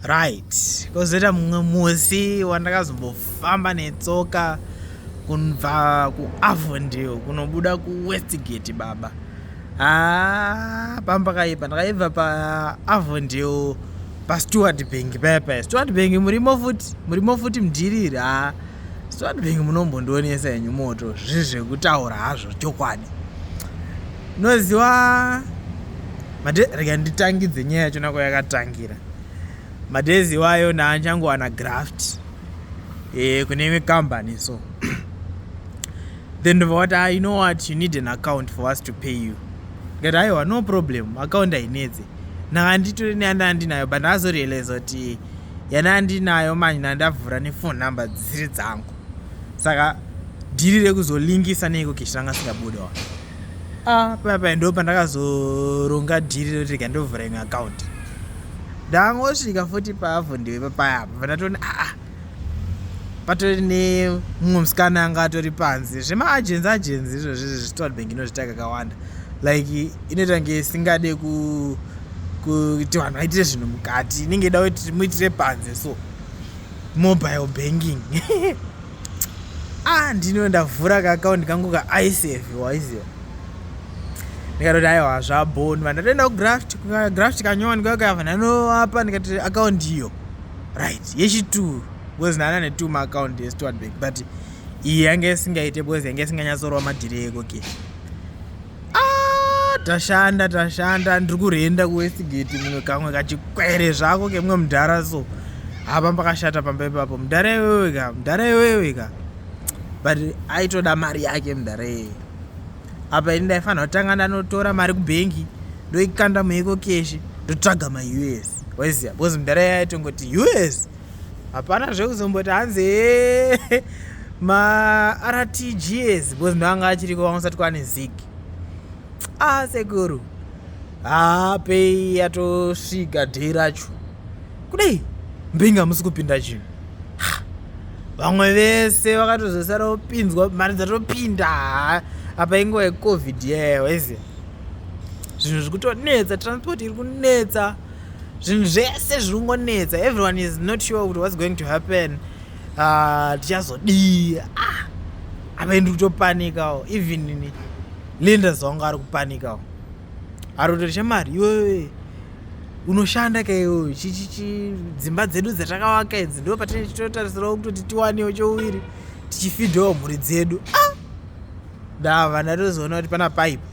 right kozoita mumwe musi wandakazombofamba netsoka kunva kuavondale kunobuda kuwestgate baba haa ah, pamba kaipa ndakaibva paavondale pasteward bank paya paya steward bank murimo futi murimo futi mdhiriri haa ah, steward bank munombondionesa henyu moto zviri zvekutaura hazvo chokwadi noziwa Made, rega nditangidze nyaya yacho nako yakatangira madays iwayo ndaachangowana graft e, kune imwe company so then ndobva wati ah, you know what you need an account for us to pay you ndikati aiwa no problem account ainedze ndanga nditore neyanda ndinayo but ndazorealiza kuti yana ndinayo manje ndandavhura nephone number dzisiri dzangu saka dhiri rekuzolingisa neiko keshiranga singabudawa ah, papa ndo pandakazoronga dhiri roti rega ndovhura imwe akaunti ndangosvika futi paavo ndiwe papaya apa pandatoni aa ah, ah. patori nemumwe musikana anga atori panze zvemaagenzi agenzi izvozvi zvestod bank inozvita kakawanda like inoita kunge isingade kuti vanhu vaitire zvinhu mukati inenge ida kuti muitire panze so mobile banking ah ndino ndavhura kaakaunti kangu kaisf waiziva ndikatoti aiwa zvabhoni va ndatoenda kugraft kugraft kanyowa ndikakayava ndanoapa ndikati akaunti iyo right yechituru because ndana netu maakaunti estward bank but iyi yange isingaite because yange isinganyatsorowa madhiri eko ke okay. Ah, tashanda tashanda ndiri kurenda kuwestgate mumwe kamwe kachikwere zvako kemumwe mudhara so hapa pakashata pamba ipapo mudhara iwewe ka mudhara iwewe ka but aitoda mari yake mudhara iyeye apa ini ndaifanira kutanga ndanotora mari kubhengi ndoikanda mueko keshi ndotsvaga maus waiziva bcause mudhara iyeye aitongoti us hapana zvekuzomboti hanzi eh, martgs because ndoanga achiriko vanga usati kwane zig ah sekuru haa pei yatosvika day racho kudai mbinga musi kupinda chinhu vamwe vese vakatozosara vopinzwa mari dzatopinda haa apa inguva yecovid yeyo ese zvinhu zviri kutonetsa transport iri kunetsa zvinhu zvese zviri kungonetsa everyone is not sure kuti what's going to happen ah, tichazodii ah, apa ndi kutopanikawo even ini linda zonga ari kupanikawo ari kutori chamari iwewe unoshanda ka iwewe chichichi dzimba dzedu dzatakavaka idzi ndo patine chitotarisirawo kutoti tiwanewo chouviri tichifidhawo mhuri dzedu ah! ndava ndatozoona kuti pana paipa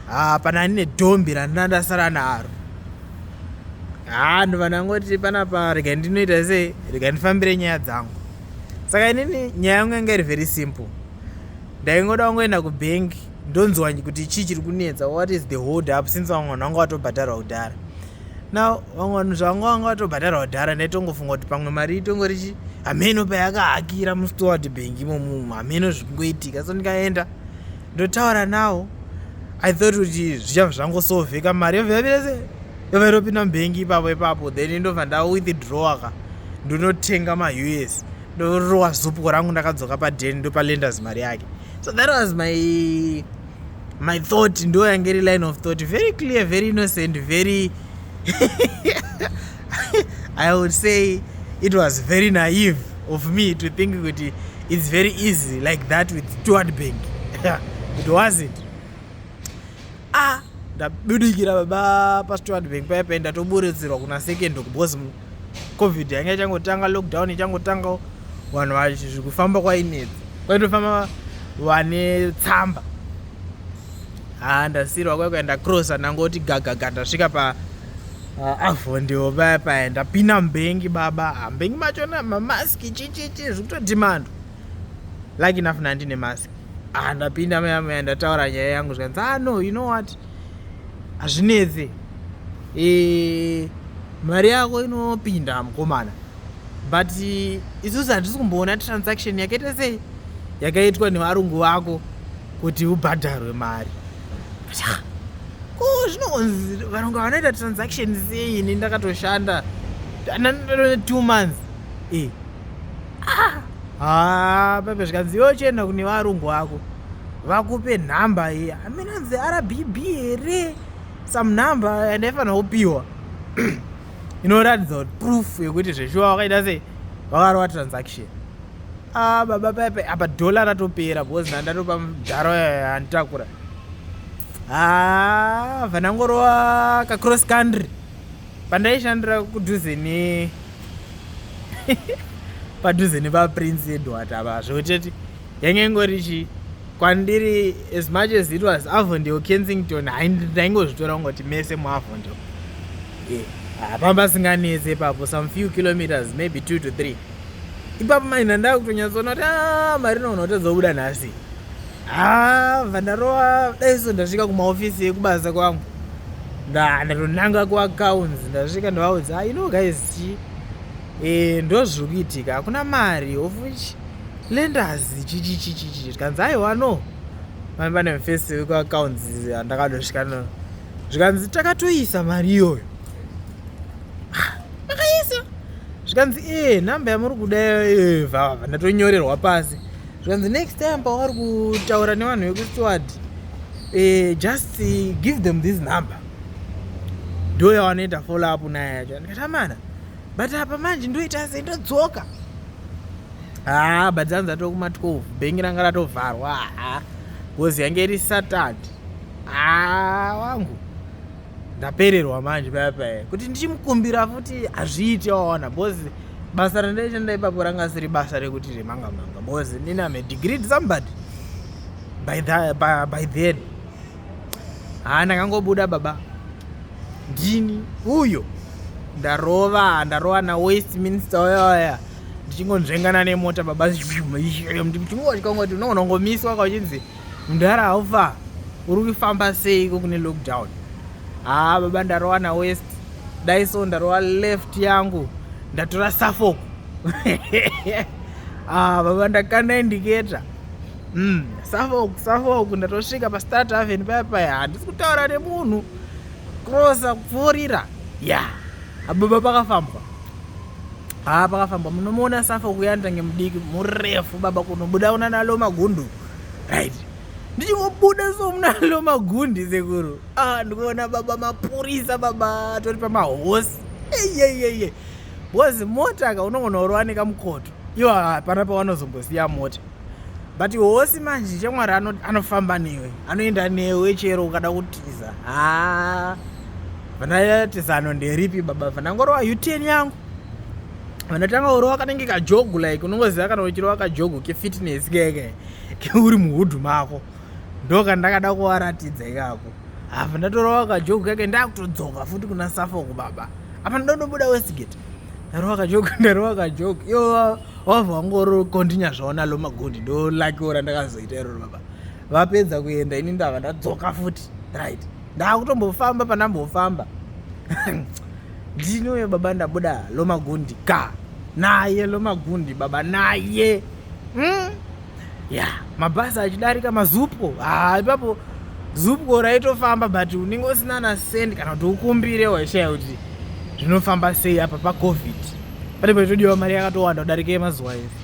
haa pana ani nedhombi randina ndasara naro haa ndova ndangoti panapa rega ndinoita sei rega ndifambire nyaya dzangu saka inini nyaya yangu yanga iri very simple ndaingoda wangoenda kubhengi ndonzwa kuti chii chiri kunetsa what is the hold up since vamwe vanhu vanga vatobhadharwa kudhara now vamwe vanhu zvavanga vanga vatobhadharwa kudhara ndaitongofunga kuti pamwe mari itongori chii hameno payakahakira mustoward bhengi imomumu hameno zvikungoitika so ndikaenda ndotaura nawo i thought kuti zvichava zvangosovheka mari yobva yavirese yobva iropinda mubhengi ipapo ipapo then indobva ndawithdrawa ka ndonotenga maus ndorowa zupko rangu ndakadzoka paden ndopalenders mari yake so that was my my thought ndo yange iri line of thought very clear very innocent very i would say it was very naive of me to think kuti it's very easy like that with steward bank it wasn't ah ndabudikira baba pasteward bank paya paya ndatoburitsirwa kuna second kubos covid yanga ichangotanga lockdown ichangotanga vanhu vazvikufamba kwainetsa kwaitofamba vane tsamba ha ndasirwa kwaikuenda crossa ndangoti gagaga ndasvika pa Ah, avo ndivo vaya paya ndapinda mbengi baba ah, mbengi macho na mamaski chichichi zviri kutoti mando lucky enough nandine maski ah, ndapinda maya maya ndataura nyaya yangu zvikanzi ah no you know what hazvinetse e, mari yako inopinda mukomana but isusu handisi kumboona transaction yakaita sei yakaitwa nevarungu vako kuti ubhadharwe mari ko zvinonzi varungu vanoita transaction sei ini ndakatoshanda two months e ha pepe zvikanzi yochenda kune varungu vako vakupe nhamba ye aminanzi rbb here some number and aifanira kupiwa inoratidza kuti proof yekuti zveshuwa wakaita sei wakarova transaction ah, baba pepe apa dhola ratopera because ndandatopa mudharo yanditakura ah, vanangorova kacross country pandaishandira kudhuze ne padhuze nepaprince edward apa zvekuteti yange ingori chii kwandiri as much as it was avondale kensington ndaingozvitora kungoti mese muavondale hapamba yeah. singanetse ipapo some few kilometers maybe two to three ipapo maina ndava kutonyatsoona kuti ah, mari noona kutadza kubuda nhasi ha ah, vandarowa dai so ndasvika kumaofisi ekubasa kwangu ndatonanga kuaccounts ndasvika ndavaudza ah, you know guys chii Eh, ndozviri kuitika hakuna mari of which lenders chichichichichi zvikanzi aiwa no mai vane mufesi wekuaccounts andakadosvika no zvikanzi takatoisa mari iyoyo makaisa zvikanzi ee eh, nhamba yamuri kuda eh, vava ndatonyorerwa pasi zvikanzi next time pavari kutaura nevanhu vekusteward eh, just give them this number ndo yawanoita follow up naye yacho ndikatamana but apa manje ndoita sei ndodzoka haa ah, badzanzi atokuma 12 bhengi ranga ratovharwa haa bcoz yange iri satad haa ah, wangu ndapererwa manje paya paya kuti ndichimukumbira futi hazviiti waona bcoz basa randaita ndaipapo ranga siri basa rekuti remanga manga bcoz ndiname degree somebody by, the, by, by then haa ndakangobuda baba ndini uyo ndarova ndarova nawest minister oyoya ndichingonzvengana nemota baba ndichingochikongoti unonongomiswa kauchinzi mdhara haufa uri kufamba seiko kune lockdown haa baba ndarova nawest dai so ndarova left yangu ndatora suffolk haa ah, baba ndakanda indicator Mm, Suffolk, Suffolk ndatosvika paStart Avenue paya paya handisi kutaura nemunhu krosa kupfuurira ya ababa pakafambwa haa pakafambwa munomuona Suffolk uyandange mudiki murefu baba kunobuda una nalo magundu right ndichingobuda so munalo magundi sekuru ah, ndikuona baba mapurisa baba tori pamahosi eyeyeye bhozi mota ka unongonoorwa nekamukoto ivo hapana pavanozombosiya mota but hosi manje chamwari anofamba newe anoenda newe chero ukada kutiza haa vanatizano nderipi baba vanangorova uten yangu vanatanga urova kanenge kajogu like unongoziva kana uchirova kajogu kefitness keke keuri muhudhu mako ndoka ndakada kuvaratidza ikako hava ndatorova kajogu keke ndakutodzoka futi kuna safoko baba apa ndonobuda westgate Ndarowa kajoke, ndarowa kajoke. Yo wava wangoro continue zvaona lo magondi ndo lucky ora ndakazoita iro baba. Vapedza kuenda ini ndava ndadzoka futi. Right. Ndakutombofamba pandambofamba. Ndinoyo baba ndabuda lo magondi ka. Naye lo magondi baba naye. Mm. ya yeah. mabhasi achidarika mazupo ah, ipapo zupo raitofamba but unenge usina na send kana kuti ukumbire waishaya kuti zvinofamba sei apa pacovid pane paitodiwa mari yakatowanda kudarika yemazuva ese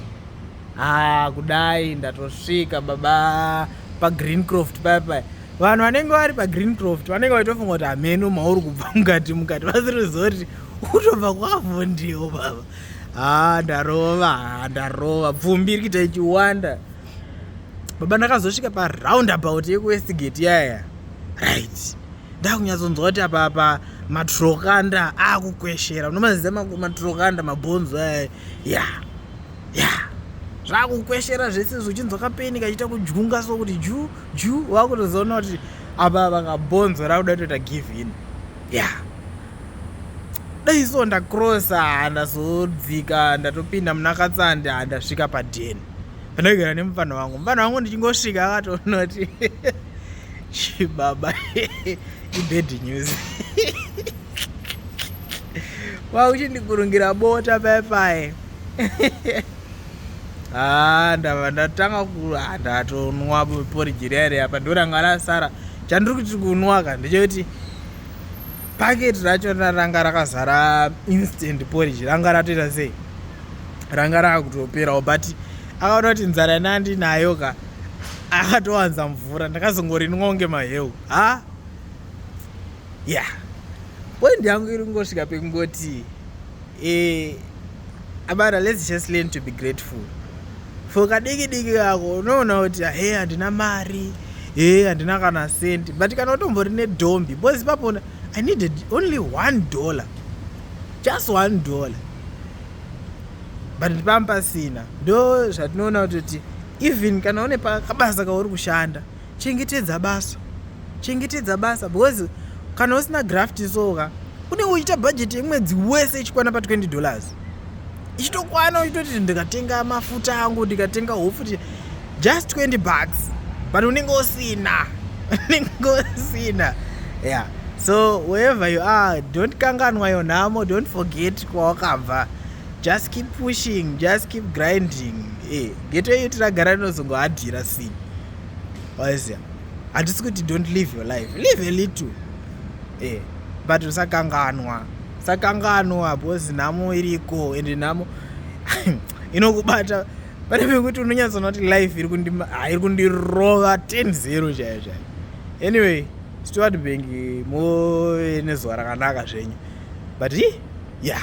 haa ah, kudai ndatosvika baba pagreen croft paya paya vanhu vanenge vari pagreen croft vanenge vaitofunga kuti hameno mauri kubva mukati mukati vasiri zoti utobva kwavhondiwo baba haa ah, ndarova haa ah, ndarova pfumbi iri kuita ichiwanda baba ndakazosvika paroundabout yekuwestgate yaya right ndakunyatsonzwa kuti apa apa matrokanda akukweshera unomaziza matrokanda mabhonzo aya ya ya zvakukweshera zvese zvichinzwa kapeni kachiita kujunga so kuti ju ju wakutozoona kuti apa apa kabhonzo rakuda kutoita give in ya yeah. dai so ndacrossa handazodzika ndatopinda muna katsande handasvika padeni ndinogara nemupfanha wangu mupfanha wangu ndichingosvika akatonoti chibaba ibad news wauchindikurungira bota paye paye haa ah, ndava ndatanga ku ah, ndatonwa poriji riya riya pa ndoranga rasara chandiri kuti kunwa ka ndechekuti paketi racho ranga rakazara instant porridge ranga ratoita sei ranga rakutoperawo but akaona kuti nzara ina ndinayo ka akatowanza mvura ndakazongorinwa kunge maheu ha ya yeah. point yangu iri kungosvika pekungoti eh, abana let's just learn to be grateful for kadiki diki kako unoona kuti he handina mari he handina kana sendi but kana utombori nedhombi bcause ipapona i needed only one dollar just one dollar but ndipamba pasina ndo zvatinoona kutoti even kana une pakabasa kauri kushanda Chengetedza basa. Chengetedza basa because kana usina graft so ka unenge uchiita bhajeti yemwedzi wese ichikwana pa20 dollars ichitokwana uchitoti ndikatenga mafuta angu ndikatenga hofu just 20 bucks but unenge usina unenge usina yeah so wherever you are don't kanganwa yo nhamo don't forget kwawakabva just keep pushing just keep grinding e eh, geto yeutiragara rinozongohadhira sini waizia hatisi kuti don't live your life live a little e but usakanganwa usakanganwa bcause nhamo iriko and nhamo inokubata pane pekuti unonyatsoona kuti life iri ah, kundirova 10 zero chaiyo chaiyo anyway steward bank move nezuva rakanaka zvenyu but ya yeah.